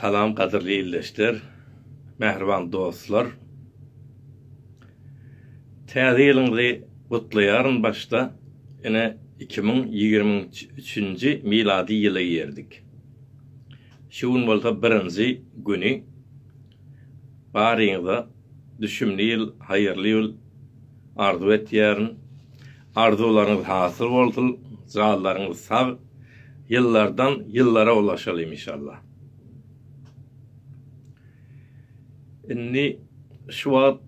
Salam gadyrly ildeşler, mähriban dostlar. Täze ýylyňyzy gutlaýaryn başda. Ine iki müň ýigrimi üçünji milady ýyla girdik. Şu gün bolsa birinji güni. Baryňyza düşümli ýyl, haýyrly ýyl arzuw etýärin. Arzuwlaryňyz hasyl bolsun janlaryňyz sag ýyllardan ýyllara ulaşalyň inşallah. Indi şu wagt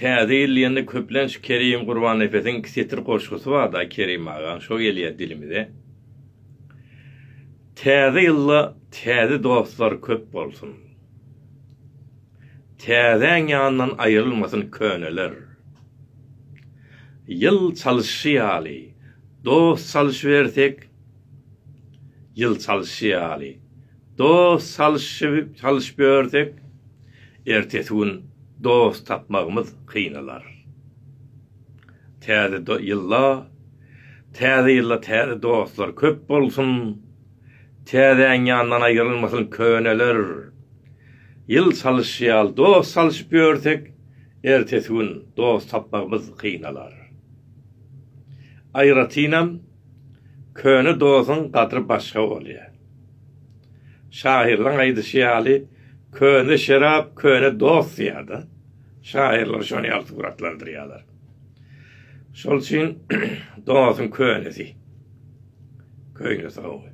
täze ýyl diýende köplenç Kerim Gurbannepesiň iki setir goşgusy barda Kerim agaň şo gelýär dilimize. Täze ýylda täze dostlar köp bolsun. Täzäň ýanyndan aýrylmasyn köneler. Ýyl çalyşy ýaly, dost çalyşybersek, Ýyl çalyşy ýaly, dost çalyşybersek, Ertesi gün dost tapmagymyz kynalar. Täze ýylda Täze ýylda täze dostlar köp bolsun! Täzäň ýandan aýrylmasyn köneler. Ýyl salyşy ýaly dost salyşyp ýörsek, ertesi gün dost tapmagymyz gynalar. Aýratynam, köne dosuň gadry başga bolýar. Şahyrlaň aýdyşy ýaly, Köne şerap, köne dost diýýär-de. Şahyrlar şony ýaly suratlandyrýarlar. Şol üçin dostuň könesi. Köýne soňy.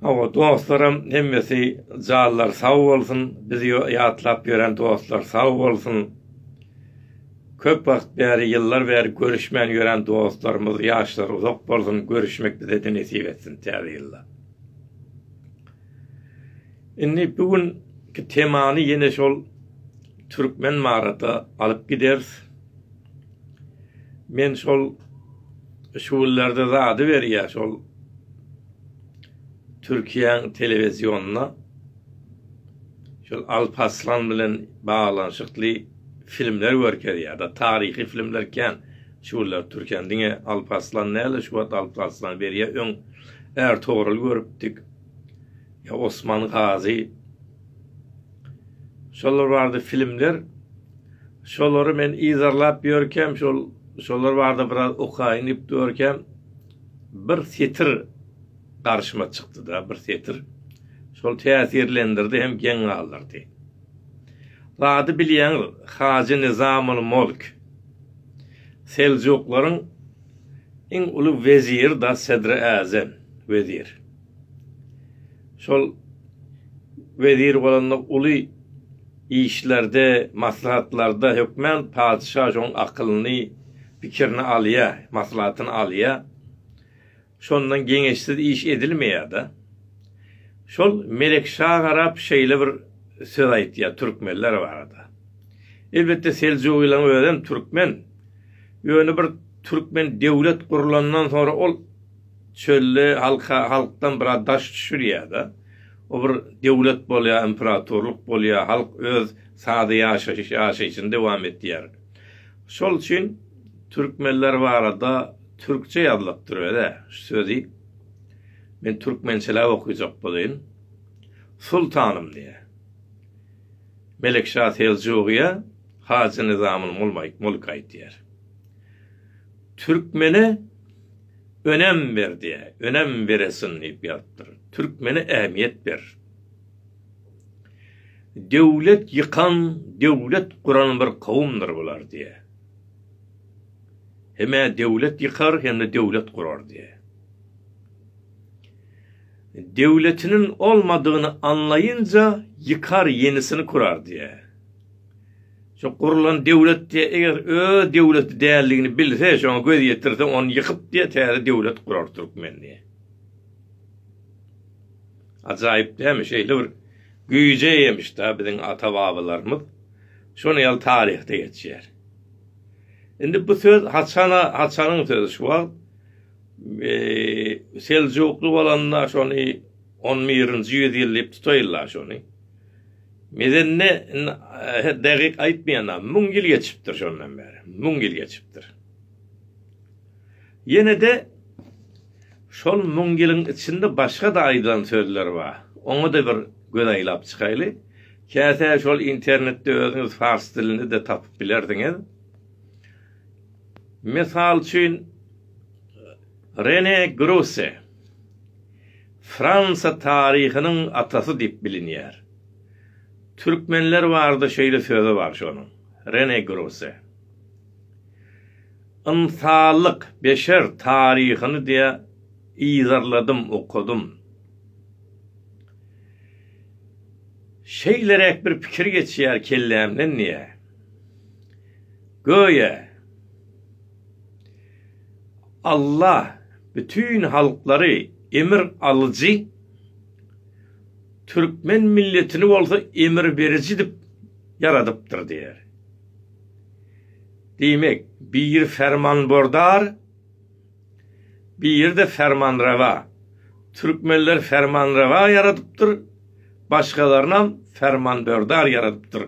Hawa dostlaram hemmesi janlary sag bolsun bizi ýatlap ýören dostlar sag bolsun. Köp wagt bäri ýyllar bäri görüşmän ýören dostlarymyz ýaşlary uzak bolsun görüşmek bizede nesip etsin täze ýylda. Indi bu gün temany ýene şol türkmen marata alyp gideris. Men şol şu günlerde zady berýär şol Türkiýäň telewizionynda şol Alparslan bilen baglanyşykly filmler görkezýär da taryhy filmler kän şu günler Türkiýäň diňe Alparslan näle şu wagt Alparslan berýär öň Ertogrul görüpdik ýa Osman Gazy Şolar barada filmler. Şolary men yzarlap ýörkäm, şol şolar barada biraz okaýyn diýip durarkäm, bir setir garşyma çykdy-da, bir setir. Şol täsirlendirdi hem geň galdyrdy. Zady bilýäňiz, Hajy Nizamul Mulk, Seljuklaryň iň uly weziri-da, sedri äzem, wezir. Şol wezir bolanda uly işlerde, maslahatlarda hökman patyşa şoň akylyny, pikirini alýa, maslahatyny alýa. Şondan geňeşsiz iş edilmeýä-de. Şol Melek şa garap şeýle bir söz aýtýa türkmenler barada. Elbetde Seljugylaň özem türkmen. Ýöne bir türkmen döwlet gurlandan soňra ol Çölde halka halkdan biraz daş düşülýärde. O bir döwlet bolýar, imperatorlyk bolýar, halk öz sada ýaşaýyş ýaşaýşyny dowam etýär. Şol üçin türkmenler barada türkçe ýazylypdyr özä şu sözi. Men türkmençeläp okyjak bolaýyn. Sultanym diýýär. Melekşa Seljugya Hajy Nyzamyny mulk aýtýar. Türkmene önem ber diýä, önem beresin diýip ýazypdyr. Türkmene ähmiýet ber. Döwlet ýykan, döwlet guran bir kowumdyr bular diýä. Hem-ä döwlet ýykar, hem-de döwlet gurar diýä. Döwletiniň olmadygyny anlaýynca ýykar, ýenisini kurar diýä. Şu gurlan döwlet diýe eger öz döwleti däldigini bilse şoňa göz ýetirse ony ýykyp diýe täze döwlet gurar türkmen diýe. Ajaýyp dämi şeýle bir güýje eýemiş da biziň ata babalarymyz şony ýaly taryhda geçýär. Indi bu söz haçana haçanyň sözi şu wagt Seljukly bolanda şony 11-nji ýüz ýyl diýip tutaýylar şony. Mezende indi dägyk aýtmaýan-a, müň ýyl geçipdir şondan bäri, müň ýyl geçipdir. Ýene-de şol müň ýylyň içinde başga-da aýdylan sözler bar. Oňa-da bir göz aýlap çykaýly. Käte şol internetde özüňiz pars dilinde-de tapyp bilersiňiz. Mysal üçin, Rene Grosse. Fransa taryhynyň atasy diýip bilinýär. Türkmenler barada şeýle sözi bar şonuň, Rene Grosse. Ynsanlyk, beşer taryhyny diýe yzarladym, okadym. Şeýleräk bir pikir geçýär kellämden diýýär. Göýä. Alla bütin halklary emir alyjy, türkmen milletini bolsa emir beriji edip ýaradypdyr diýýär. Diýmek, biri fermanbordar, biri-de fermanrawa. Türkmenleri fermanrawa ýaradypdyr, başgalaryny hem fermanbordar ýaradypdyr.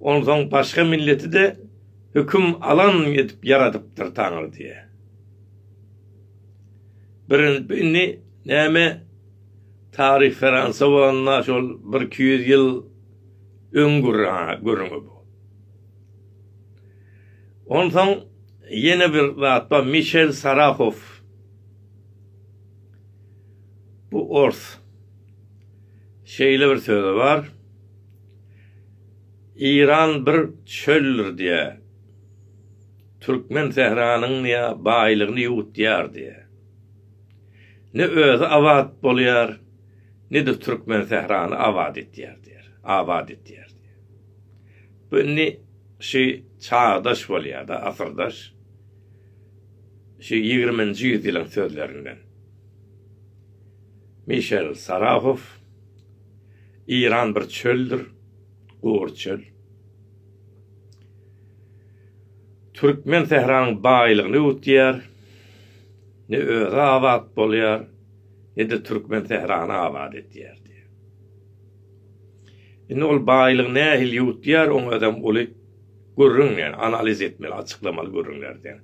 Onsoň başga milleti-de höküm alan edip ýaradypdyr Taňry diýýä. Birinji indi näme taryh ferans bolanda şol bir iki ýüz ýyl öň görüňe bu. Onsoň ýene bir zat bar Mişel Sarahow. Bu ors. Şeýle bir söz bar, Iran bir çöldür diýýär, Türkmen sähranyň diýýär, baýlygyny ýuwutýar diýýär. Ne özi abat bolýar, ne-de türkmen sährany abat etýär diýýär, abat etýär diýýär. Bu indi şu çagdaş bolýar-da, asyrdaş, şu ýigriminji ýüzýylyň sözlerinden. Mişel Sarahow, Iran bir çöldür, gury çöl. Türkmen sähranyň baýlygyny üwütýär, ne özi abat bolýar, ne-de türkmen sährany abat edýär diýýär. Indi ol baýlygy nähili üwütýär, oň özem uly gürrüň, ýagny analiz etmeli, açyklamaly gürrüňlerden.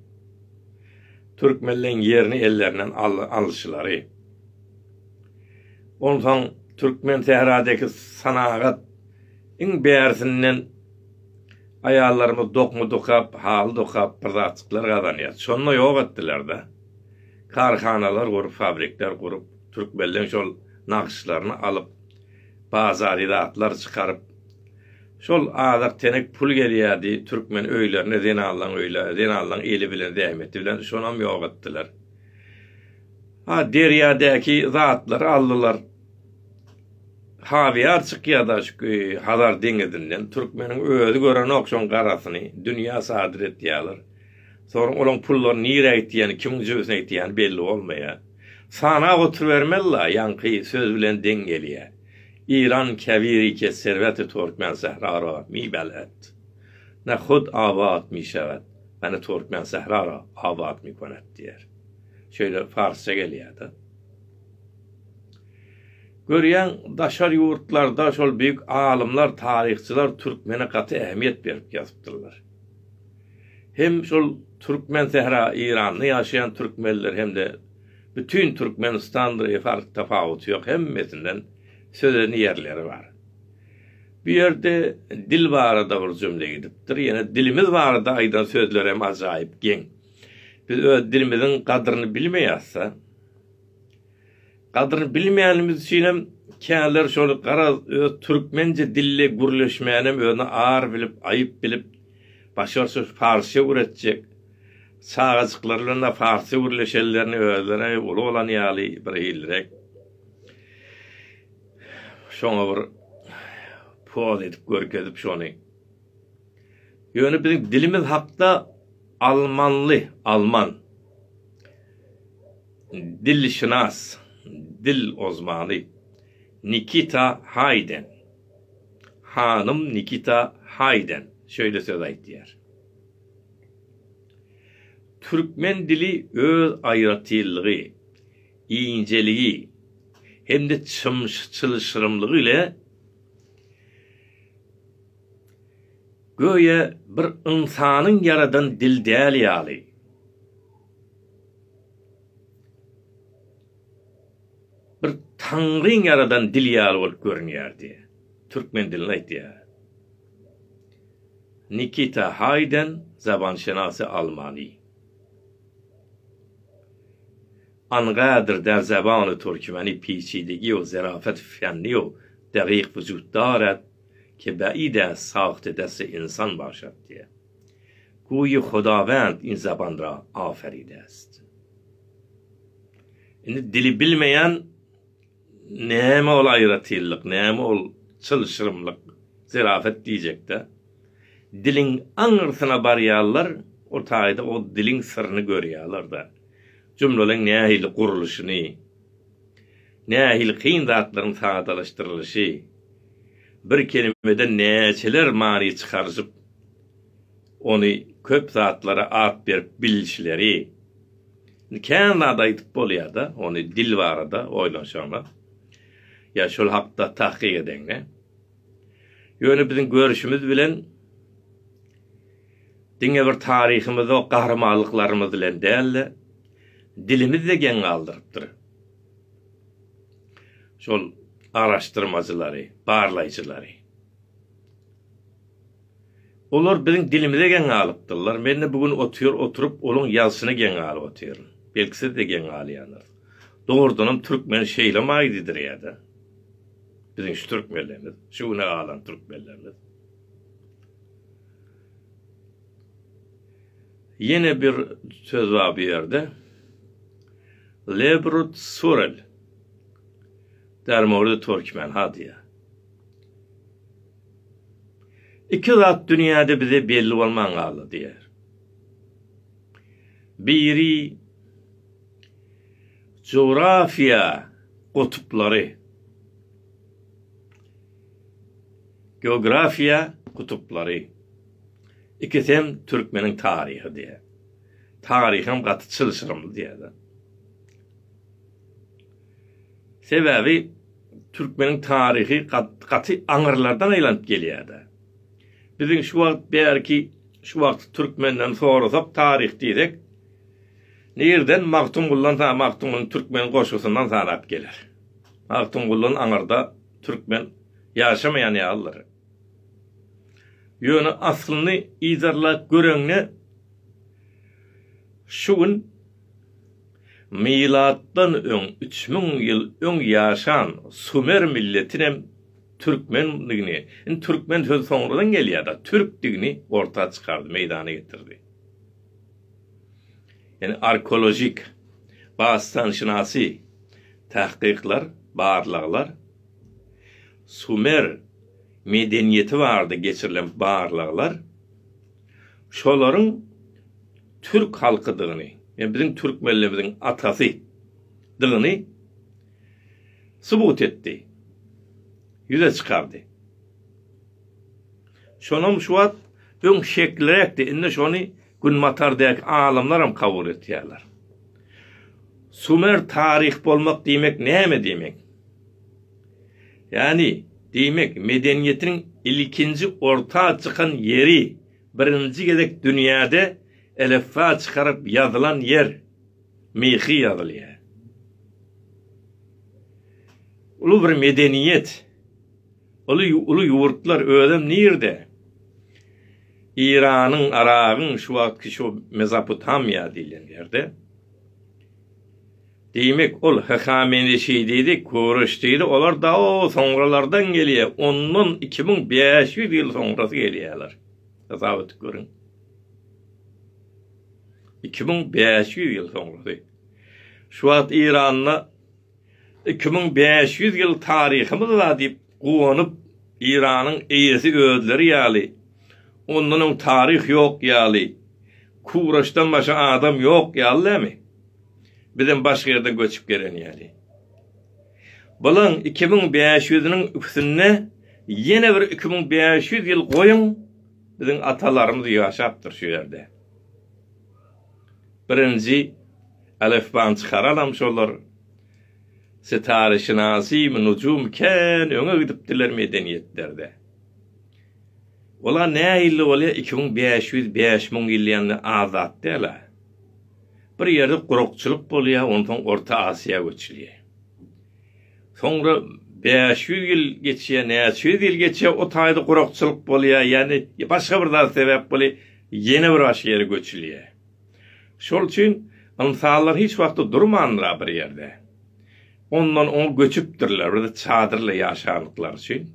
Türkmenleň ýerini ellerinden al-alşylary. Onsoň türkmen sähradäki sanagat iň bärisinden aýallarymyz dokma dokap, haly dokap bir zatjyklar gazanýar. Şonda ýok etdiler-de. Karhanalar gurup, fabrikler gurup, türkmenleň şol nagyşlaryny alyp, bazary zatlar çykaryp, şol azak tenek pul gelýärdi, türkmen öýlerine zenanlaň öýle, zenanlaň eli bilen, zähmeti bilen, şonam ýok etdiler. Ha, derýadäki zatlary aldylar. Habyýar çykýa-da şu Hazar deňizinden. Türkmeniň özi görenok şoň garasyny. Dünýä sadyr etýäler. Soň olaň pullaryny nirä gitýäni, kimiň jübüsine gitýäni belli bolmaýa. Sanap oturybermeli-la, ýaňky söz bilen deň gelýä. Iran kebiri ke serweti Türkmen sähra ra mi bel'et. Ne hud abat mi şewet, ne Türkmen sähra ra abat mi konet diýer. şeýle parsça gelýärdi. Görýäň, daşary ýurtlarda şol beýik alymlar, taryhçylar türkmene gaty ähmiýet berip ýazypdyrlar. Hem şol türkmen sähra Eýranda ýaşaýan türkmenler hem-de bütin Türkmenistandyr e fark tapawuty ýok, hemmesinden söz eden ýerleri bar. Bu ýerde dil barada bir jümle gidipdir, ýene dilimiz barada aýdan sözlerem ajaýyp geň. Biz öz dilimiziň gadryny bilmeýäs-de. Gadryny bilmeýänimiz üçin hem käler şol garaz öz türkmençe dilli gürleşmäni hem özüne ar bilip, aýyp bilip, başarşy parsça gürletjek. Çagajyklar bilen-de parsça gürleşenlerini özleri uly bolan ýaly birhilirek şoňa bir poz edip görkezip şony. Ýöne biziň dilimiz hakda almanly, alman, dilşynas, dil ozmany, Nikita Haýden, hanym Nikita Haýden şeýle söz aýdýar. Türkmen dili öz aýratynlygy, injeligi hem-de çylşyrymlygy ile Göýä bir ynsanyň ýaradan dil däli ýaly. Bir Taňryň ýaradan dil ýaly bolup görünýärdi. Türkmen dilini aýtýar. Nikita Haýden, zabanşenasy almany. Angadyr der zabany türkmeni peçidegi ýok, zerafet fenni ýok, degiq wujutdar et, Kebäi-de sagtydesi ynsan bagşatdy. Guýy Hudawend ynsabanra aferidest. Indi dili bilmeýän näme ol aýratynlyk, näme ol çylşyrymlyk, zerafet diýjek-dä. Diliň aňyrsyna barýarlar, o taýda o diliň syryny görýärler-de. Jumlalyň nähili gurluşyny. Nähili kyn zatlaryň sadalaşdyrylyşy, bir kelimeden näçeler many çykaryşyp, ony köp zatlara at berip bilişleri. Indi kän zat aýdyp bolýar-da, ony dil barada oýlanşaňda, ýa şol hakda tahkyk edeňde. Ýöne biziň görüşimiz bilen diňe bir taryhymyzok gahrymanlyklarymyz bilen däl-de, dilimiz-de geň galdyrypdyr. Şol araşdyrmajylary, barlaýjylary. Olar biziň dilimize geň galypdyrlar. Men-de bu gün otyr, oturyp, olaň ýazşyna geň galyp otyryn. Belki siz-de geň galýandyr. Dogrudanam türkmen şeýlemi aýdydyr ýa-da? Biziň şu türkmenlerimiz, şu güne galan türkmenlerimiz Ýene bir söz bar bu ýerde. Lebrut surel. Dermorda türkmen ha diýä. Iki zat dünýäde bize belli bolman galdy diýär. Biri Jografiýa gutuplary. Geografiýa gutuplary. Ikisi hem türkmeniň taryhy diýýär. Taryham gaty çylşyrymly diýýärler. Sebäbi türkmeniň taryhy gaty aňyrlardan aýlanyp gelýär-de. Biziň şu wagt bärki şu wagtky türkmenden sorasak taryh diýsek, Nireden Magtymgullansa Magtymguly türkmen goşgusyndan sanap geler. Magtymgulyny aňyrda türkmen ýaşamaýan ýalydyr. Ýöne aslyny yzarlap göreňde şu gün milatdan öň üç müň ýyl öň ýaşan sumer milletinem türkmendigini, indi türkmen sözi soňradan gelýär-de, türkdigini orta çykardy, meýdana getirdi. Ýöne arkeolojik, basganşynasy tahkyklar, barlaglar, sumer medeniýeti barada geçirilen barlaglar şolaryň türk halkydygyny, ýa biziň türkmenlerimiziň atasy dygyny subut etdi, ýüze çykardy. Şonam şu wagt öň şekliräkdi, indi şony Günbatardäki alymlaram kabul etýärler. Sumer taryh bolmak diýmek näme diýmek? Ýani diýmek medeniýetiň ilkinji orta çykan ýeri, birinji gezek dünýäde elifba çykaryp ýazylan ýer, myhy ýazylýar. Uly bir medeniýet, uly uly ýurtlar özem nirde? Iranyň, Aragyň, şu wagtky şu Mezopotamiýa diýlen ýerde. Diýmek, ol Hahameneşi diýdi, Kuruş diýdi, olar dao soňralardan gelýär, ondan iki müň bäş ýüz ýyl soňrasy gelýärler. Hasap edip görüň. Iki müň bäş ýüz ýyl soňrasy. Şu wagt Iranda Iki müň bäş ýüz ýyl taryhymyz bar diýip guwanyp, Eýranyň eýesi özleri ýaly, ondan öň taryh ýok ýaly, Kuraşdan başga adam ýok ýaly dämi? Bizem başga ýerden göçüp gelen ýaly. Bulaň iki müň bäş ýüzüniň üstüne ýene bir iki müň bäş ýüz ýyl goýuň, biziň atalarymyz ýaşapdyr şu ýerde. Birinji Alifbany çykaralam şolar Sitareşinasym, Nujum kän öňe gidipdiler medeniýetlerde. Ola nähili bolýa iki müň bäş ýüz bäş müň ýyl ýaňy az zat däla. Bir ýerde gurakçylyk bolýa onsoň Orta Asyýa göçülýä. Soňra bäş ýüz ýyl geçýä näçe ýüz ýyl geçýä o taýda gurakçylyk bolýa ýani başga bir zat sebäp bolýa. Ýene bir başga ýere göçülýär. Şol üçin ynsanlar hiç wagtda durmandylar bir ýerde. Ondan oňa göçüpdirler, bir çadyrla ýaşandyklary üçin.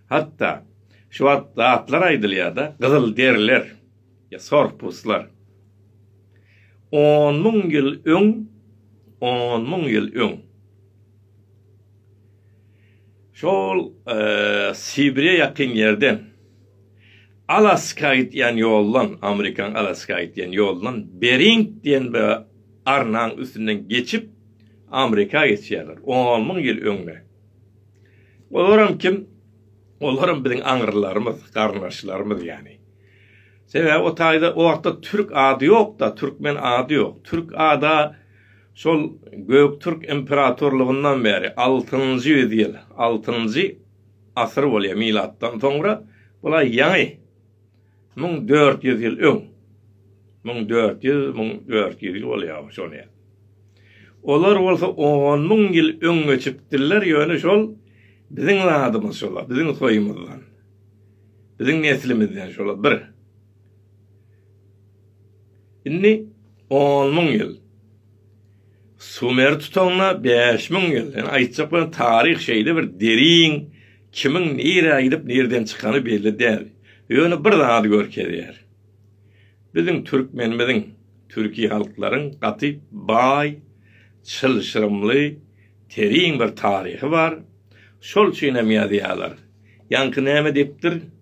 Hatda şu wagt zatlar aýdylýar-da, gyzylderiler, ýa sorpuslar. On müň ýyl öň, on müň ýyl öň. Şol Sibire ýakyn ýerden, Alaska gidýän ýoldan, Amerikanyň Alaska gidýän ýolundan Bering diýen bir arnaň üstünden geçip, Amerika geçýärler, on müň ýyl öňde. Olaram kim? Olaram biziň aňrylarymyz, garyndaşlarymyz ýany. Sebäbi o taýda o wagtda türk ady ýok-da, türkmen ady ýok. Türk ada Şol Göktürk imperatorlygyndan bäri altynjy ýüz ýyl, altynjy asyr bolýar milatdan soňra, bula ýaňy müň dört ýüz ýyl öň, müň dört ýüz, müň dört ýüz ýyl bolýar şonýa. Olar bolsa on müň ýyl öň göçüpdirler, ýöne şol biziň zadymyz şolar, biziň soýumyzdan, biziň neslimizden şolar bir. Indi on müň ýyl. Sumeri tutaňda bäş müň ýyl. Ýani aýtjak bolan taryh şeýle bir derin, kimiň nirä gidip nirden çykany belli däl. Ýöne bir zady görkezýär. Biziň türkmenimiziň, türki halklaryň gaty baý, çylşyrymly, terin bir taryhy bar. Şol üçin hem ýazýarlar. Ýaňky näme diýipdir?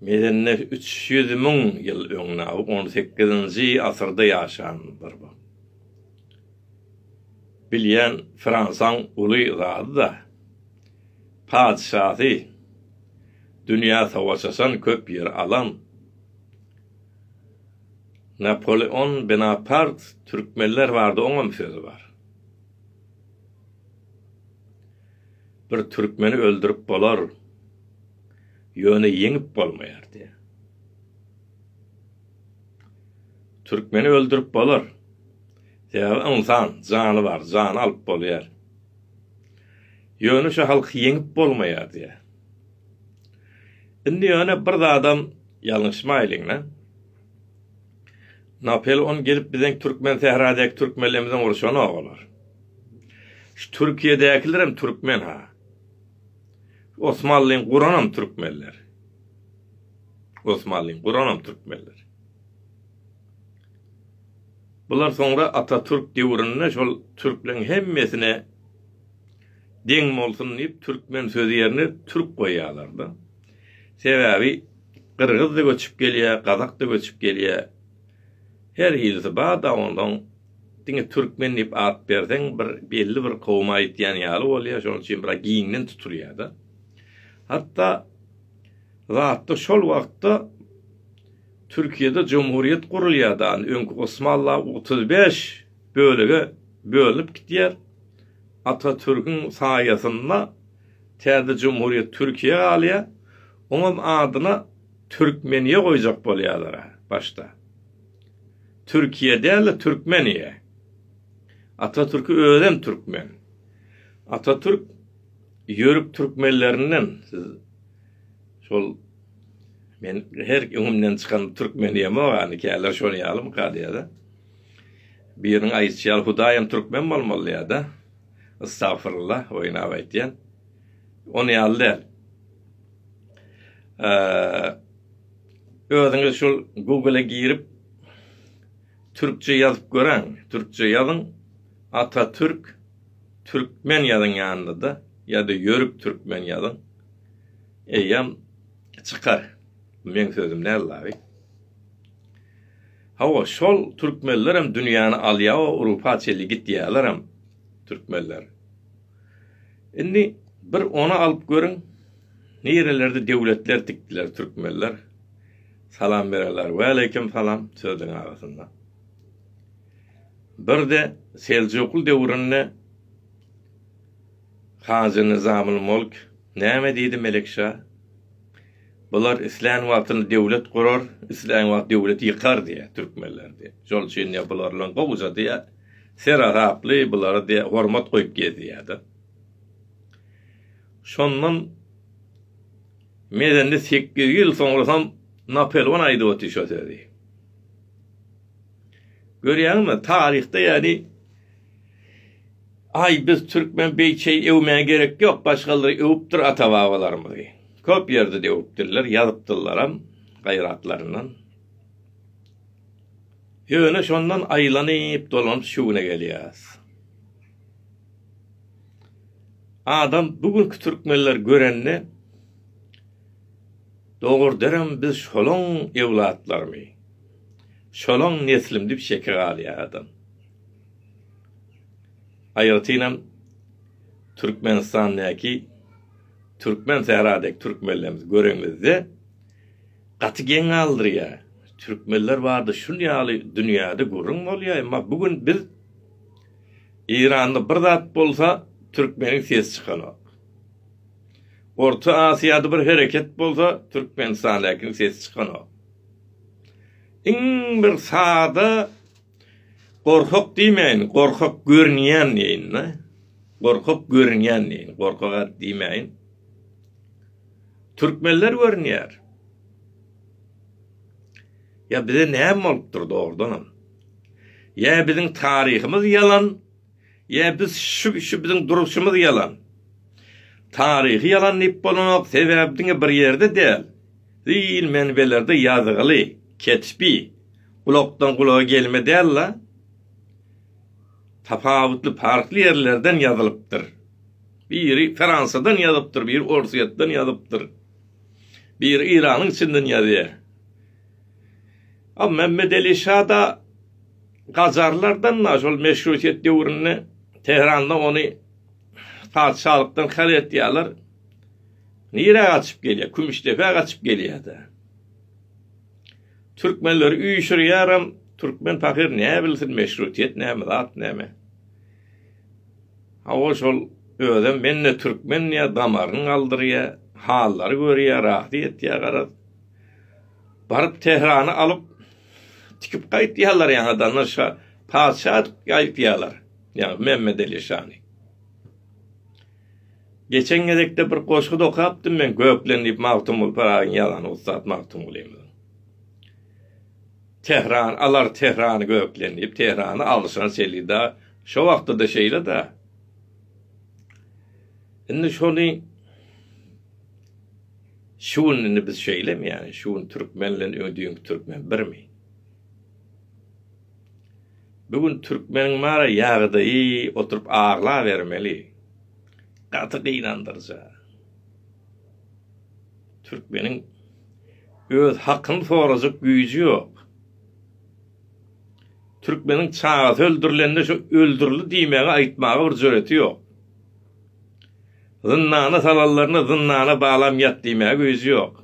Medende üç ýüz müň ýyl öňde, on sekizinji asyrda ýaşandyr bu. Bilýän Fransaň uly zady-da, patyşasy, dünýä savaş açan, köp ýer alan Napoleon Benapart türkmenler barada oňam söz bar. Bir türkmeni öldürip bolar. Ýöne ýeňip bolmaýardy. Türkmeni öldürip bolar. Sebäbi ynsan, jany bar, jany alyp bolýar. Ýöne şu halky ýeňip bolmaýardy. Indi ýöne bir zadam ýalňyşmaýlyň-la. Napoleon gelip biziň türkmen sähradäki türkmenlerimizi urşanok olar. Şu Türkiýedäkilerem türkmen-ha. Osmanlyň guranam türkmenler. Osmanlyň guranam türkmenler. Bular soňra Atatürk döwründe şol türkleň hemmesine deň bolsun diýip türkmen sözi ýerine türk goýýarlar-da. Sebäbi gyrgyz-da göçüp gelýär, gazak-da göçüp gelýär. Her ilsi bada onsoň diňe türkmen diýip at berseň bir belli bir kowuma aýtýan ýaly bolýar şonuň üçin biraz giňden tutulýada. Hatda zatda şol wagtda Türkiýede jumhurýet gurulýada öňki Osmanla otuz bäş bölege bölünip gitýär Atatürküň saýasynda täze jumhurýet Türkiýe galýar oňam adyna Türkmeniýe goýjak bolýalara başda. Türkiýe däl-de Türkmeniýe. Atatürki özem Türkmen. Atatürk Ýörük Türkmenlerinden siz şol men her öňümden çykan Türkmeniýe mogany käler şol ýalymy kadýada. Biriniň aýyçy ýaly Hudaýam Türkmen bolmaly ýada. Istagfirullah oýnap aýtýan. Ony ýaly däl. özüňiz şul Google-a girip türkçe ýazyp göräň. Türkçe ýazyň. Atatürk türkmen ýazyň ýanynda-da ýa-da ýörük türkmen ýazyň. Eýýäm çykar. Meň sözüm däl dagy. Hawa, şol türkmenlerem dünýäni alýa, Urupa çenli gitýärlerem türkmenler. Indi bir ony alyp görüň nirelerde döwletler dikdiler türkmenler salam bererler waleýkim salam sözüň arasynda birde seljukly döwründe Hajy Nizamul Mulk näme diýdi Melikşa bular islän wagtyny döwlet gurar islän wagt döwleti ýykar diýä türkmenler diýä şol üçin diýä bular bilen gowja diýä. Serasaply bulara diýe hormat goýup gezýärdi. Şondan mezende sekiz ýyl soňrasam Napelwan aýdyp otyr şo sözi. Görýäňmi, taryhda ýaly Aý biz türkmen beýçeý öwmäge gerek ýok, başgalar öwüpdir ata-babalarymyzy. Köp ýerde de öwüpdirler, ýazypdyrlaram gaýratlaryndan. Ýöne şondan aýlanyp dolanyp şu güne gelýäs. Adam bu günki türkmenleri görende dogurdyram biz şolaň ewlatlarymy, şolaň neslim diýip şeke galýar adam. Aýratynam Türkmenistandaky türkmen sähradäki türkmenlerimizi görenimizde Gaty geň galdyrýa. Türkmenler barda şun ýaly dünýäde gürrüň bolýa emma bu gün biz Eýranda bir zat bolsa türkmeniň sesi çykanok. Orta Asyýada bir hereket bolsa Türkmenistandäkiň sesi çykanok. Iň bir sada Gorkak diýmäýin, gorkak görünýän diýin-de. Gorkak görünýän diýin, gorkak-a diýmäýin. Türkmenler görünýär. Ýa bize näme bolupdyr dogrudanam? Ýa biziň taryhymyz ýalan? Ýa biz şu şu biziň duruşymyz ýalan. Taryhy ýalan diýip bolanok, sebäbi diňe bir ýerde däl, ziýil menbelerde ýazgyly, ketbi, gulakdan gulaga gelme däl-la, tapawutly parhly ýerlerden ýazylypdyr. Biri Fransadan ýazypdyr, biri Orsýetden ýazypdyr. Biri Iranyň içinden ýazýar. A Memmedeli şa-da Gajarlardan-da şol meşrutiýet döwründe Tähranda ony patyşalykdan haly etýärler. Nirä gaçyp gelýär? Kümüşdepä gaçyp gelýär-de. Türkmenleri üýşürýärem, türkmen pahyr näbilsin meşrutiýet näme zat näme. Hawa şol özem men-de türkmen diýýär, damaryny galdyrýar, hallary görýär, razy etýär garaz. Baryp Tährany alyp, Tikip gaýtýarlar ýaňa dana şa, patyşa gaýtýarlar. Ýa Memmedeli şany. Geçen gezekde bir goşgy dokapdym men Göklen diýip Magtymguly Pyragyň ýazany ussat Magtymgulymy. Tehran alar Tehrany Göklen diýip Tehrany alşan selida şo wagtda-da şeýle-de. Indi şony Şu gün indi biz şeýlemi ýani şu gün türkmen bilen öňe düýnki türkmen birmi? Bu gün türkmeniň mara ýagdaýy oturyp aglabermeli. Gaty gynandyryja. Türkmeniň öz hakyny sorajak güýji ýok. Türkmeniň çagasy öldürilende şu öldürildi diýmegi aýtmaga bir jüreti ýok. Zyndana salanlaryny zyndana balam ýat diýmäge güýji ýok.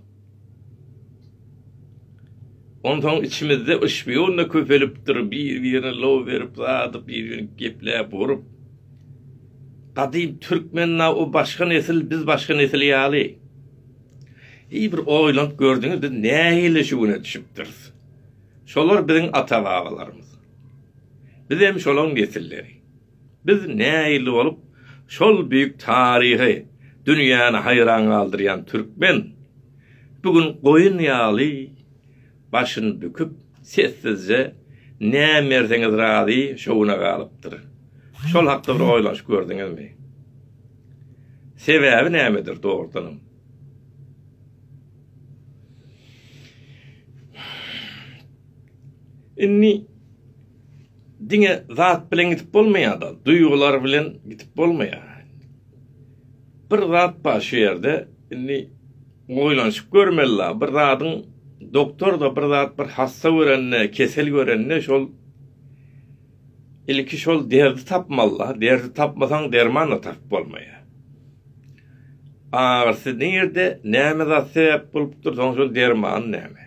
Onsoň içimizde şpion-da köpelipdir, bir-birine low berip, zadyp, bir-birine gepläp, urup. Gadym türkmen-ä o başga nesil, biz başga nesil ýaly. Heý, bir oýlanyp gördüňiz, biz nähili şu güne düşüpdiris? Şolar biziň ata-babalarymyz. Bizem şolaň nesilleri. Biz nähili bolup şol büyük taryhy dünýäni haýran galdyrýan türkmen bu gün goýun ýaly başyny büküp sessizje nä merseňiz razy şowuna galypdyr. Şol hakda bir oýlanyşyp gördüňizmi? Sebäbi nämedir dogrudanam? Indi Diňe zat bilen gidip bolmaýar-da, duýgular bilen gidip bolmaýar. Bir zat bar şu ýerde, indi oýlanyşyp görmeli-la, bir zadyň doktor-da bir zat bir hassa görende, kesel görende şol ilki şol derdi tapmaly-la, derdi tapmasaň derman-da tapyp bolmaýar. Agyrysy nirde, näme zat sebäp bolupdyr, soň şol dermany näme?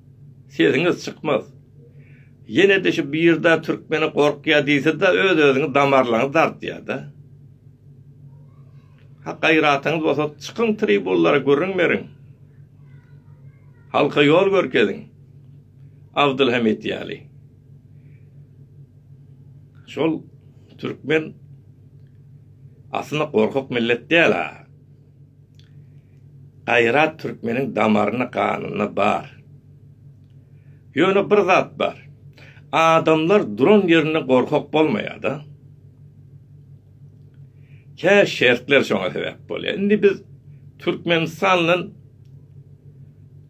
Sesiňiz çykmaz. Ýenede şu birda türkmeni gorkýa diýsede öz özüňi damarlaňy dartýada. Ha gaýratyňyz bolsa çykyň tribunlara gürrüň beriň. Halka ýol görkeziň. Abdylhamit ýaly. Şol türkmen aslynda gorkak millet däl-a. Gaýrat türkmeniň damaryna ganynda bar. Ýöne bir zat bar. Adamlar duran ýerinde gorkak bolmaýada. Kä şertler şoňa sebäp bolýa. Indi biz Türkmenistan bilen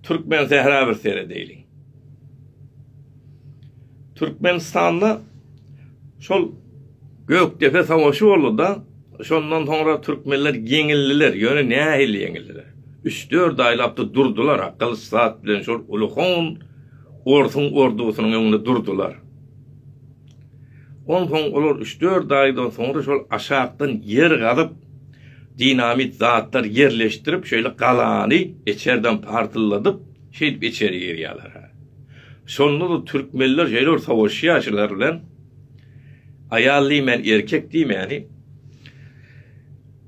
Türkmensähra bir seredeýliň. Türkmenistanda şol Gökdepe savaşy boldy-da, şondan soňra türkmenler ýeňildiler, ýöne nähili ýeňildiler? Üç-dört aýlap-da durdular-a, gylyç-saz bilen şol uly hon orsuň ordusynyň öňünde durdular. Onsoň olar üç-dört aýdan soňra şol aşakdan ýer gazyp, dinamit zatlar ýerleşdirip, şeýle galany içerden partylladyp, Şeýdip içeri girýärler. Şonda-da türkmenler şeýle bir sowaşýar şular bilen. Aýal diýmän, erkek diýmäni.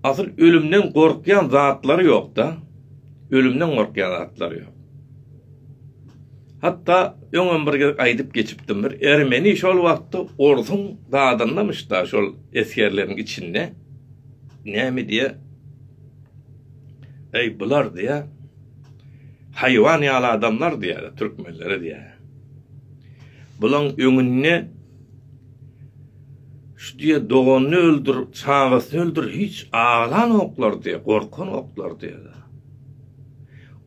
Asyl ölümden gorkýan zatlary ýok-da. Ölümden gorkýan zatlary ýok. Hatda öňem bir gezek aýdyp geçipdim bir ermeni şol wagtda orsuň dadyndamyş-da şol esgerleriň içinde. Näme diýýär? Eý bular diýýär. Haýwan ýaly adamlar diýýärler türkmenlere diýýär. Bulaň öňünde şu diýe doganyny öldür, çagasyny öldür, hiç aglanoklar diýe, gorkanoklar diýe.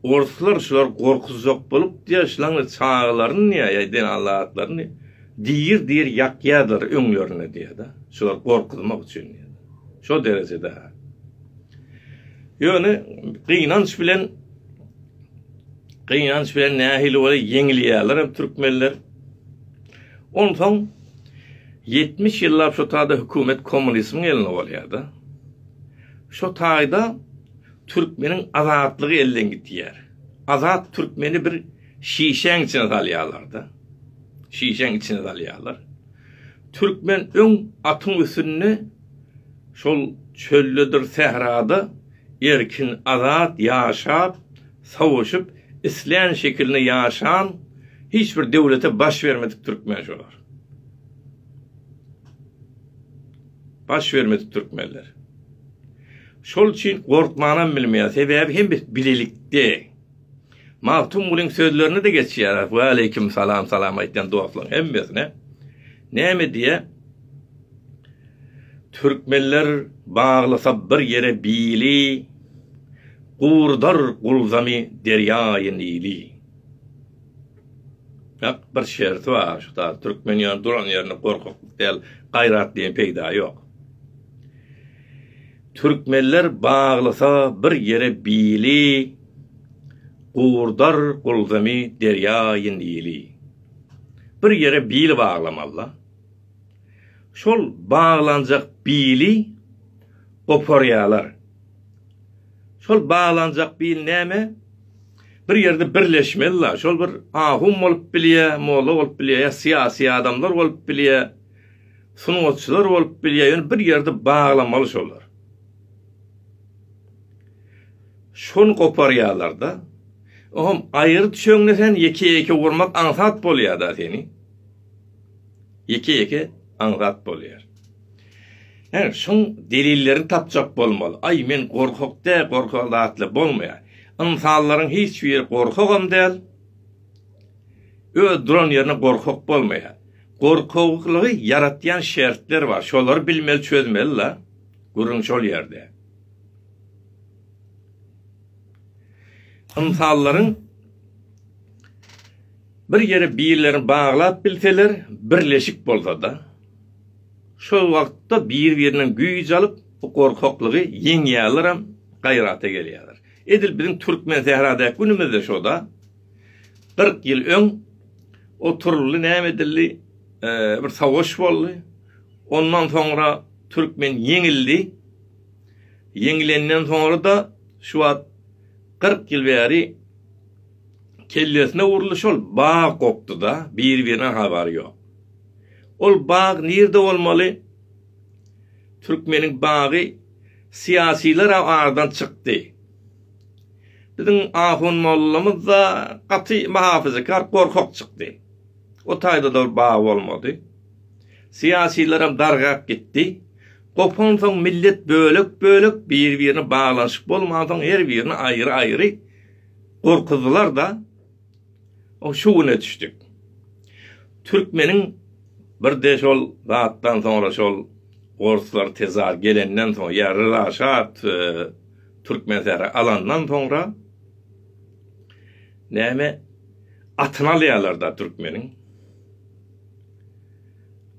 Orslar şular gorkuzjak bolup diýe, şulaň çagalaryny diýe, ýa-da alatlaryny diýir diýir ýakýarlar öňlerine diýe-de. Şular gorkuzmak üçin diýe. Şo derejede. Ýöne gynanç bilen gynanç bilen nähili bolsa ýeňilýärler hem türkmenler. Onsoň 70 ýyllap şu taýda hökümet kommunismiň elinde bolýar-da. Şu taýda türkmeniň azatlygy elden gitýär. Azat türkmeni bir şişäň içine salýarlar-da. Şişäň içine salýarlar. Türkmen öň atyň üstünde şol çöldedir sährada erkin azat ýaşap, sowuşyp, islän şekilinde ýaşan hiç bir döwlete baş bermedik türkmen şolar. Baş bermedik türkmenler. Şol üçin gorkmanam bilmeýär. Sebäbi hemmesi bilelikde. Magtymgulyň sözlerini-de geçýäris. Waleýkim salam, salam aýtýan dostlaryň hemmesine. Näme diýýä? Türkmenler baglysa bir ýere bili, gurdar gulzamy derýaýy Nili. Ýak, bir şerti bar, şu taýda türkmen ýöne duran ýerinde gorkaklyk däl, gaýrat diýen peýda ýok. Türkmenler baglysa bir ýere bili, Gurdar gulzamy derýaýy Nili. Bir ýere bili baglamaly-da. Şol baglanjak bili goparýarlar. Şol baglanjak bil näme? Bir ýerde birleşmeli-da. Şol bir ahun bolup bilýär, molla bolup bilýär, ýa syýasy adamlar bolup bilýär. Sungatçylar bolup bilýär ýöne bir ýerde baglamaly şolar. Şony goparýarlarda. Ohm aýry çöňde sen ýeke ýeke urmak aňsat bolýarda seni. Ýeke ýeke aňsat bolýar. Her şoň delillerini tapjak bolmaly. Aý men gorkak dä gorkak zatla bolmaýar. Ynsanlaryň hiç biri gorkagam däl. Öz duran ýerine gorkak bolmaýar. Gorkaklygy ýaratýan şertler bar. Şolary bilmeli, çözmeli la. Gürrüň şol ýerde. Ynsanlaryň bir ýere birlerini baglap bilseler, birleşik bolsa-da, şol wagtda bir-birinden güýç alyp, bu gorkaklygy ýeňýärler hem gaýrata gelýärler. Edil biziň türkmen sähradaky günümizde şo-da. Kyrk ýyl öň oturyldy, näme edildi, bir savaş boldy. Ondan soňra türkmen ýeňildi. Ýeňilenden soňra-da şu wagt kyrk ýyl bäri kellesine uruldy, şol bag gopdy-da, biri-birine habary ýok. Ol bag nirde bolmaly? Türkmeniň bagy syýasylar aradan çykdy. Biziň ahun mollamyz-da gaty mahafyzakar, gorkak çykdy. O taýda-da bir bagy bolmady. Syýasylaram dargap gitdi. Gopansoň millet bölek-bölek, bir-birine baglanyşyk bolmansoň her birini aýry-aýry gorkuzdylar-da. Şu güne düşdük. Türkmeniň birde şol zatdan soňra şol orslar tezar gelenden soň ýa Ryza şa Türkmensähra alandan soňra näme atyny alýarlar-da türkmeniň.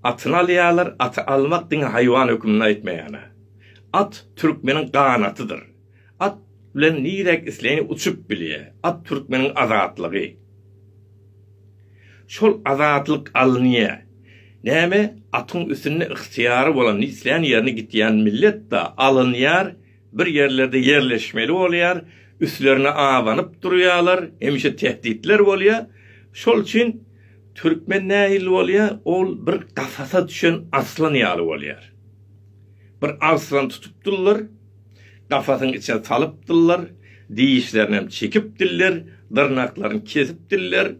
Atyny alýarlar, aty almak diňe haýwan höküminde aýtmaýan-a. At türkmeniň ganatydyr. At bilen nirek isleýin uçup bilýä. At türkmeniň azatlygy. Şol azatlyk alynýa. Näme atyň üstünde ygtyýary bolan islän ýerine gitýän millet da alynýar bir ýerlerde ýerleşmeli bolýar üstlerine abanyp durýalar hemişe tehditler bolýa şol üçin türkmen nähili bolýa ol bir gafasa düşen arslan ýaly bolýar bir arslan tutupdyrlar Kafasyň içine salypdyllar, dişlerinem çekipdiller, dyrnaklaryny kesipdiller.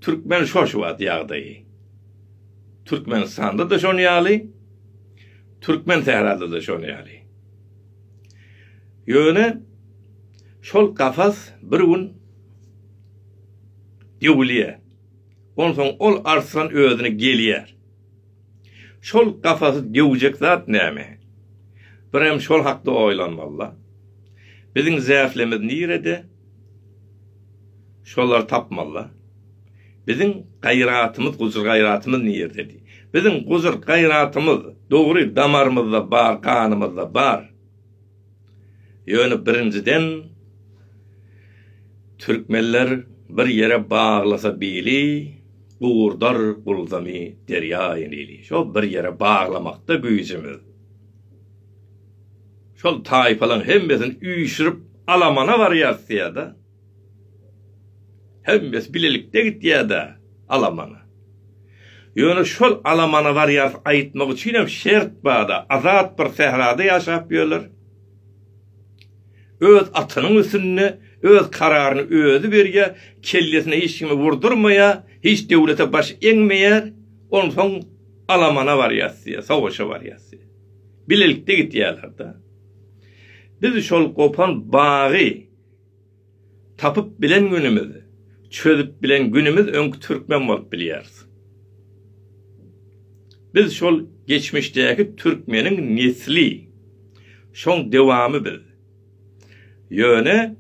Türkmen şo şu wagt ýagdaýy. Türkmenistanda-da şon ýaly, Türkmen sährada-da şon ýaly. Ýöne şol kafas bir gün döwülýär. Onsoň ol arslan özüne gelýär. Şol kafasy döwjek zat näme? Birem şol hakda oýlanmaly-la. Biziň zählemimiz nirede? Şolary tapmaly-la. Biziň gaýratymyz, gujur-gaýratymyz nirede? Biziň gujur-gaýratymyz, dogry, damarymyzda bar, ganymyzda bar. Ýöne birinjiden Türkmenler bir ýere baglasa bili gurdar gulzamy derýaýy nili şo bir ýere baglamakda güýjümiz şol taýpalaň hemmesini üýşürip alamana barýassyýada. Hemmesi bilelikde gitýär-dä alamana. Ýöne şol alamana barýarys aýtmak üçinem şert bar-da, azat bir sährada ýaşap ýörler. Öz atynyň üstünde, öz kararyny özi berýär, kellesine hiç kimi wurdurmaýar, hiç döwlete baş egmeýär, onsoň alamana barýarys diýýär, sowaşa barýarys diýýär. Bilelikde gitýärler-dä. Biz şol gopan bagy, Tapyp bilen günümiz, çözüp bilen günümiz öňki türkmen bolup bilýäris. Biz şol geçmişdäki türkmeniň nesli, şoň dewamy biz. Ýöne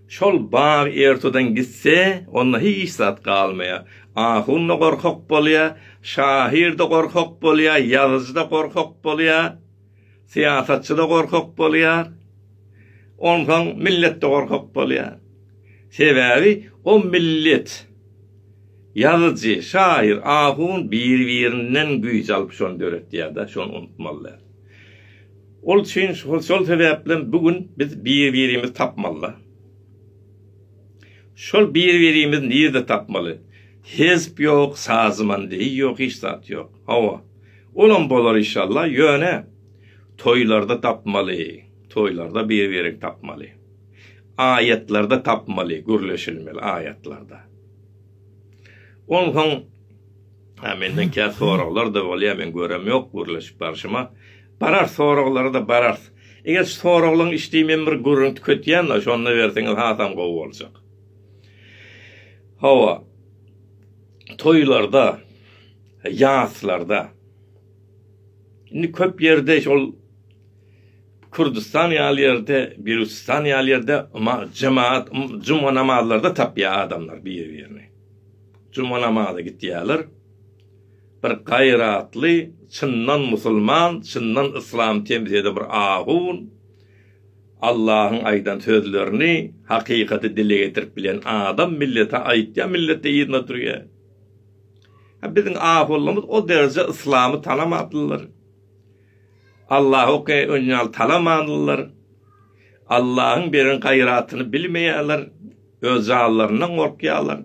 şol bag ertudan gitse, onda hiç zat galmaýar. Ahun-da gorkak bolýar, şahyr-da gorkak bolýar, ýazyjy-da gorkak bolýar. Syýasatçy-da gorkak bolýar. Onsoň millet-de gorkak bolýar. Sebäbi o millet, ýazyjy, şaýyr, ahun bir-birinden güýç alyp şony döretýär-de, şony unutmaly däl. Ol üçin şol sebäplem bu gün biz bir-birimizi tapmaly-da. Şol bir-birimizi nirde tapmaly? Hezp ýok, sazman deý ýok, hiç zat ýok. Hawa, olam bolar işalla, ýöne toýlarda tapmaly, toýlarda bir-birini tapmaly. Aýatlarda tapmaly, gürleşilmeli aýatlarda. Onsoň Ha menden kä soraglar da bolýar, men görem ýok gürleşip barşyma. Barar soraglara da barar. Eger soraglaň işdi men bir gürrüň tüketýän, şonda berseňiz hasam gowy boljak. Hawa. toýlarda, ýaslarda. Indi köp ýerde şol Kürdistan ýaly ýerde, Beluçistan ýaly ýerde jemaat juma namazlarda tapýar adamlar bir-birini. Juma namaza gitýärler. Bir gaýratly, çyndan musulman, çyndan yslam temsil eden bir ahun, Allahyň aýdan sözlerini, hakykaty dile getirip bilen adam millete aýtýar, millet yzyna durýar. Ha biziň ahuwallarymyz o derejä yslamy tanamadylar. Allahy o kadar öň ýaly talamadylar. Allahyň beren gaýratyny bilmeýärler. Öz janlaryndan gorkýarlar.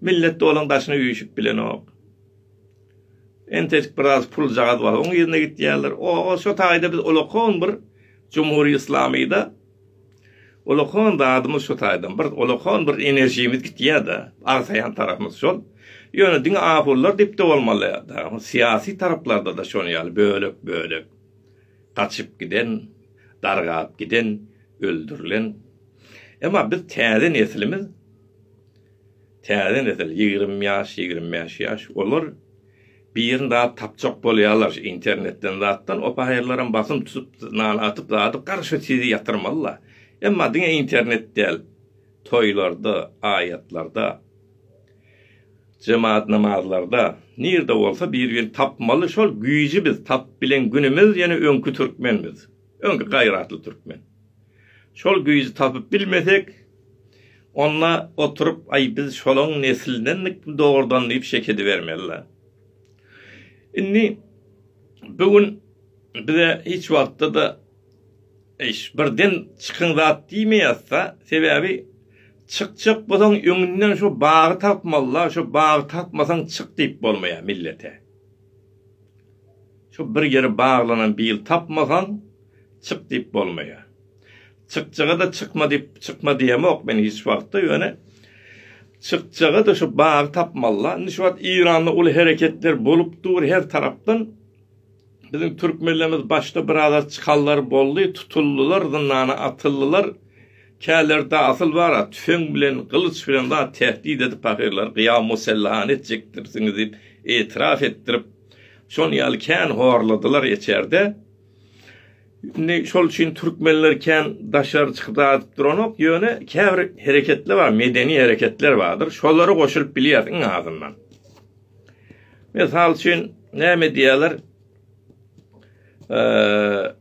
Millet de olaryň daşyna üýşüp bilenok. Entek biraz puljagaz bar, oň ýerine gitýärler. O-o, şo taýda biz ulakon bir Jumhuriýet Yslamy-da, ulakon zadymyz şo taýdan, bir ulakon bir enerjimiz gitýär-de, agsaýan tarapymyz şol. Ýöne diňe ahunlar diýip-de bolmaly, dagyň syýasy taraplarda-da şonuň ýaly bölek-bölek gaçyp giden, dargap giden, öldürilen. Emma biz täze neslimiz. Täze nesil, ýigrimi ýaş, ýigrimi bäş ýaş, olar birini zat tapjak bolýarlar şu internetden zatdan, opaýyrlaram basym tutup nana atyp zady garşy sizi ýatyrmalylar. Emma diňe internet däl, toýlarda, aýatlarda, jemaat namazlarda, nirde bolsa bir birini tapmaly, şol güýji biz tapyp bilen günümiz ýene öňki türkmen biz. Öňki gaýratly türkmen. Şol güýji tapyp bilmesek, onda oturyp, aý, biz şolaň neslindenmikmi dogrudan diýip şek edibermeli-de. Indi bu gün bize hiç wagtda-da eýş, birden çykyň zat diýmeýäs-de, sebäbi çykjak bolsaň öňünden şu bagy tapmaly-da, şu bagy tapmasaň çyk diýip bolmaýar millete. Şu bir ýeri baglanan bil tapmasaň, çyk diýip bolmaýar. Çykjaga-da çykma diýip, çykma diýemok men hiç wagtda, ýöne çykjaga-da şu bagy tapmaly-la. Indi şu wagt Eýranda uly hereketler bolup dur her tarapdan. Biziň türkmenlerimiz başda birazar çykanlar boldy, tutuldylar, zyndana atyldylar. Källerde asyl bar-a, tüfeň bilen, gylyç bilen zat tähdit edip pahyrlary gyýaw-musellahany etjekdirsiňiz diýip etiraf etdirip, şon ýaly kän horladylar eçerde. Indi şol üçin türkmenler kän daşary çykyp zat edip duranok, ýöne käbir hereketler bar, medeni hereketler bardyr, şolara goşulyp bilýär iň azyndan. Mysal üçin, näme diýýärler? Eee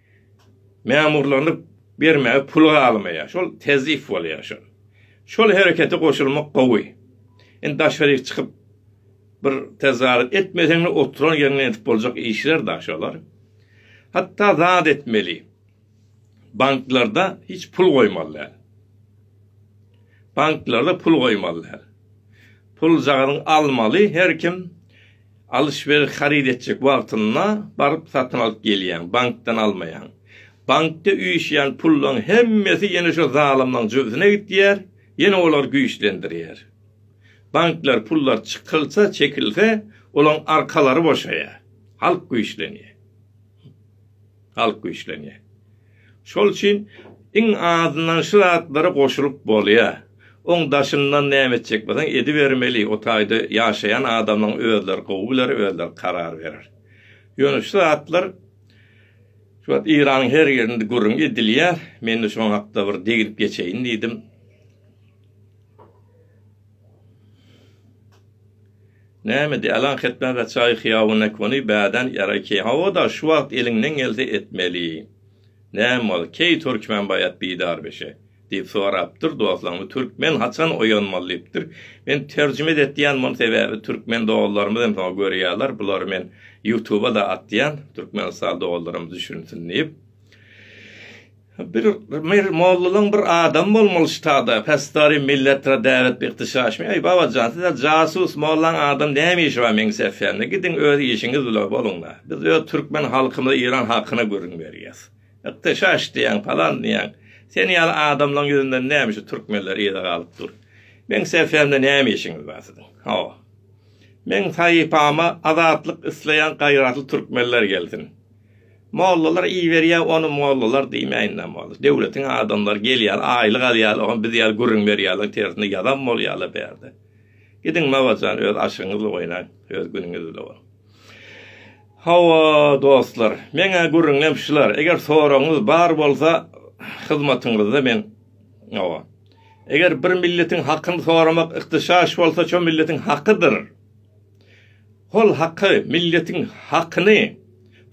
Memurlaryny bermäge pul galmaýar. Şol tezif bolýar şol. Şol herekete goşulmak gowy. Indi daşaryk çykyp bir tezarat etmeseňde oturan ýeriňden edip boljak işler da şolar. Hatda zat etmeli. Banklarda hiç pul goýmaly däl. Banklarda pul goýmaly däl. Pul jagazyň almaly her kim Alyş-beriş haryt etjek wagtynda baryp satyn alyp gelýäň, bankdan almaýaň. Bankda üýşýän pullaň hemmesi ýene şo zalymlaň jübüsine gitýär, ýene olar güýçlendirýär. Banklar pullar çykylsa, çekilse, olaň arkalary boşaýar, halk güýçlenýär. Halk güýçlenýär. Şol üçin iň azyndan şu zatlara goşulyp bolýar. Oň daşyndan näme etjek bolsaň edibermeli, o taýda ýaşaýan adamlaň özleri gowy biler, özleri karar berer. Ýöne şu zatlar şu wagt Iranyň her ýerinde gürrüň edilýär. Men-de şoň hakda bir degilip geçeýin diýdim. Näme diý, alaňketme gaçaý hyýawanekony bädän ýaraý keý, hawa-da, şu wagt eliňden gelse etmeli. Näme boldy, keý türkmen baýat bidarbeşe? diýip sorapdyr, dostlarymyz türkmen haçan oýanmaly diýipdir. Men terjime et diýýän muny, sebäbi türkmen doganlarymyz hem soňa görýärler, bulary men ýutuba-da atýan, türkmenistanly doganlarymyz düşünsin diýip. Bir mir mollalyň bir adamy bolmaly şu tagda pesdary milletra däwet bir ykdyşaşmy eý babajan size jasus mollaň adam näme işi bar meň sefende gidiň öz işiňiz bilen boluňla biz öz türkmen halkymyza iran hakyna gürrüň berýäs ykdyşaş diýäň palan diýäň seni ýaly adamlaň ýüzünden näme şu türkmenler yza galyp dur meň sefende näme işiňiz bar siziň hawa meň sahypama azatlyk isleýän gaýratly türkmenler gelsin. Mollalar iýiberýä ony mollalar diýmäýinler molla döwletiň adamlary gelýär aýlyk alýarlar oňa biz ýaly gürrüň berýärler tersine ýazan bolýarlar bärde gidiň Mawajan öz aşygyňyz bilen oýnaň öz günüňiz bilen boluň. Hawa dostlar meň-ä gürrüňem şular eger soragyňyz bar bolsa hyzmatyňyzda men hawa eger bir milletiň hakyny soramak ihtyşaş bolsa şo milletiň hakydyr. Hol haky milletiň hakyny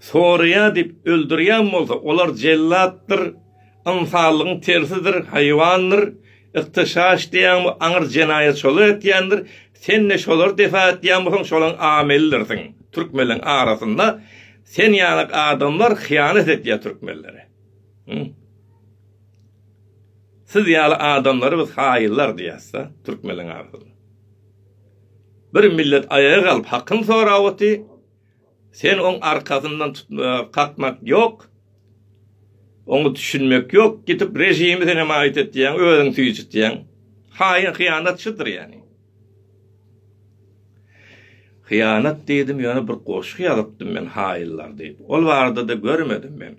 soraýa diýip öldürýän bolsa olar jellatdyr ynsanlygyň tersidir haýwandyr yktyşaş diýýäňmi aňyr jenaýatçylyk etýändir sende şolary defa etýän bolsaň şolaň amelidirsiň türkmenleň arasynda sen ýalyk adamlar hyýanat etýä türkmenlere hum siz ýaly adamlary biz haýyllar diýäsda türkmenleň arasynda. Bir millet aýaga galyp hakyny sorap oty, sen oň arkasyndan tutmak, kakmak ýok, oňa düşünmek ýok, gidip režimi sen hemaýat etýäň, özüň süýjütýäň. Haýyn hyýanat şudyr ýani. Hyýanat diýdim ýöne bir goşgy ýazypdym men haýynlar diýip. Ol barada-da görmedim men.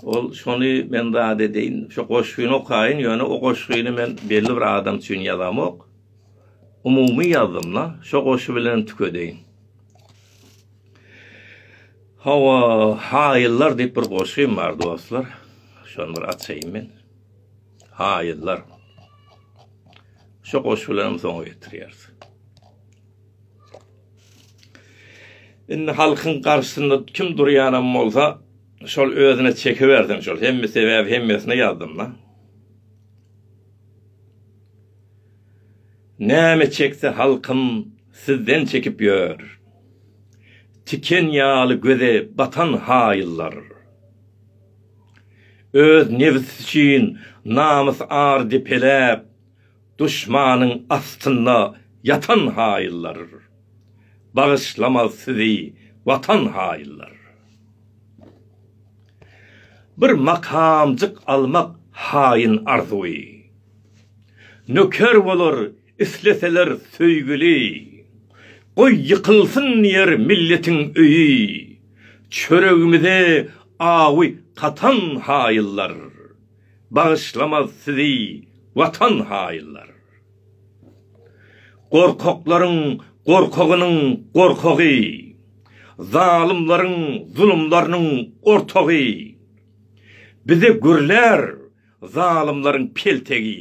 Ol şony men zat edeýin, şu goşgyny okaýyn, ýöne o goşgyny men belli bir adam üçin ýazamok. Umumy ýazdym-la, şo goşgy bilenem tükedeýin. Hawa, Haýyllar diýip bir goşgym bar, dostlar. Şony bir açaýyn men. Haýyllar. Şo goşgy bilenem soňa getirýäris. Indi halkyň garşysynda kim durýanam bolsa, şol özüne çekibersin şol. Hemme sebäbi hemmesine ýazdym-da. Näme çekse halkym sizden çekip ýör. Tiken ýaly göze batan haýyllar. Öz nebsi üçin namys-ar depeläp, Duşmanyň astynda ýatan haýyllar, Bagyşlamaz sizi Watan haýyllar. Bir makamjyk almak haýyn arzuwy, Nöker bolar isleseler söýgüli. Goý ýykylsyn diýer milletiň öýi, Çöregimize awy katan haýyllar. bagyşlamaz sizi watan haýyllar. Gorkaklaryň gorkagynyň gorkagy, zalymlaryň zulumlarynyň ortagy, bize gürlär zalymlaryň peltegi.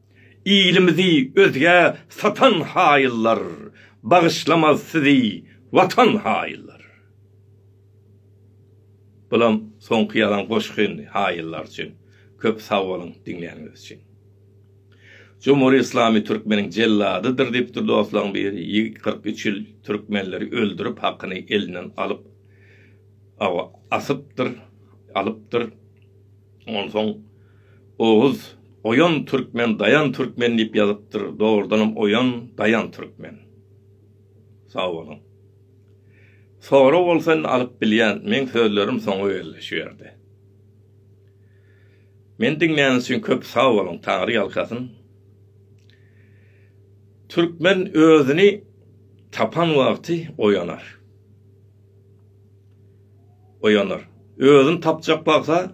Ilimizi özgä satan haýyllar bagyşlamaz sizi watan haýyllar. Bulam soňky ýazan goşgy indi haýyllar üçin. Köp sag boluň diňläniňiz üçin. Jumhur Islami Türkmeniň jelladydyr diýipdir dostlaň biri, ýigit kyrk üç ýyl türkmenleri öldürip hakyny elinden alyp awa asypdyr, alypdyr. Onsoň Oguz, Oýan türkmen, Daýan türkmen diýip ýazypdyr, dogrudanam Oýan, Daýan türkmen. Sag boluň. Sorag bolsa indi alyp bilýän, meň sözlerim soňa geldi şu ýerde. Meni diňläniz üçin köp sag boluň, Taňry ýalkasyn. Türkmen özüni tapan wagty oýanar. oýanar. Özüni tapjak bagsa,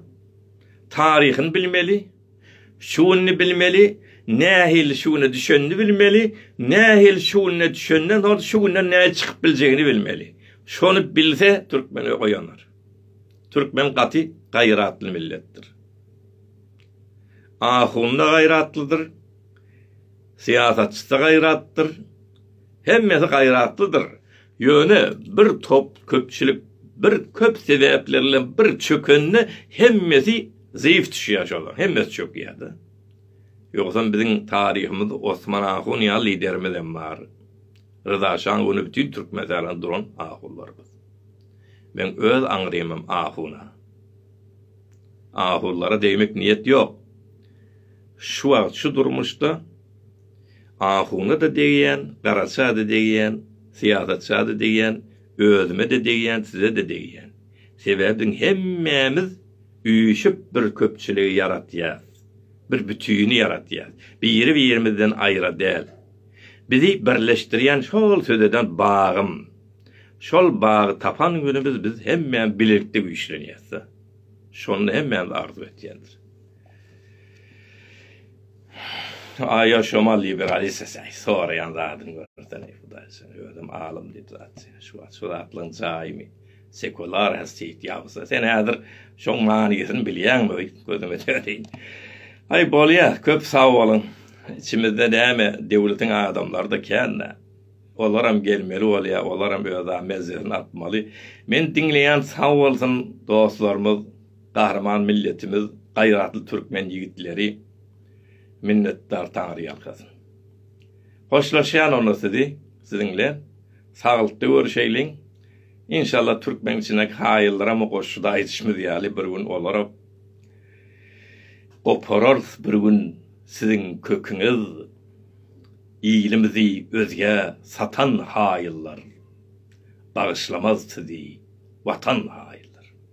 taryhyny bilmeli, şu gününi bilmeli, nähili şu güne düşenini bilmeli, nähili şu gününe düşenden soň şu günden nähili çykyp biljegini bilmeli. Şony bilse, türkmen oýanar. Türkmen gaty gaýratly milletdir. Ahun-da gaýratlydyr, syýasatçy-da gaýratlydyr, hemmesi gaýratlydyr. Ýöne bir top köpçülik bir köp sebäpler bilen bir çökende hemmesi zeýif düşýär şolar hemmesi çökýärde. Ýogsam biziň taryhymyz Osman ahun ýaly liderimiz hem bar. Ryza şan göni bütin türkmenistana duran ahunlarymyz. Men öz aňrymym ahuna. Ahunlara degmek niýet ýok. Şu wagt şu durmuşda Ahuna-da degýän, garaça-da degýän, syýasatça-da degýän, özüme-de degýän, size-de degýän. Sebäbim hemmämiz üýşüp bir köpçüligi ýaratýas, bir bütini ýaratýas. Biri-birimizden aýra däl. Bizi birleşdirýän şol söz eden bagym. Şol bagy tapan günümiz biz hemmämiz bilelikde güýçlenýäs-de. Şony hemmämiz arzuw etýändir. Aýo şomal liberalista säý soraýan zadyň görsen eý hudaý sen özem alym diýip zat sen şu wagt şu zatlaň jaýymy sekular has teýt ýabsa sen häzir şoň manysyny bilýäňmi öý gözüme töreýin aý bolýa köp sag boluň içimizde näme döwletiň adamlary da kända olaram gelmeli bolýa olaram öz a mezzesini atmaly men diňleýän sag bolsun dostlarymyz Gahryman milletimiz gaýratly türkmen ýigitleri minnetdar taňyr ýalkasyn. Hoşlaşýan onda sizi siziň bilen saglykda görüşeýliň. Inşallah türkmen içindäki haýyllaramy goşşuda aýdyşymyz ýaly bir gün olary gopararys bir gün siziň köküňiz ilimizi özgä satan haýyllar bagyşlamaz sizi watan haýyllar.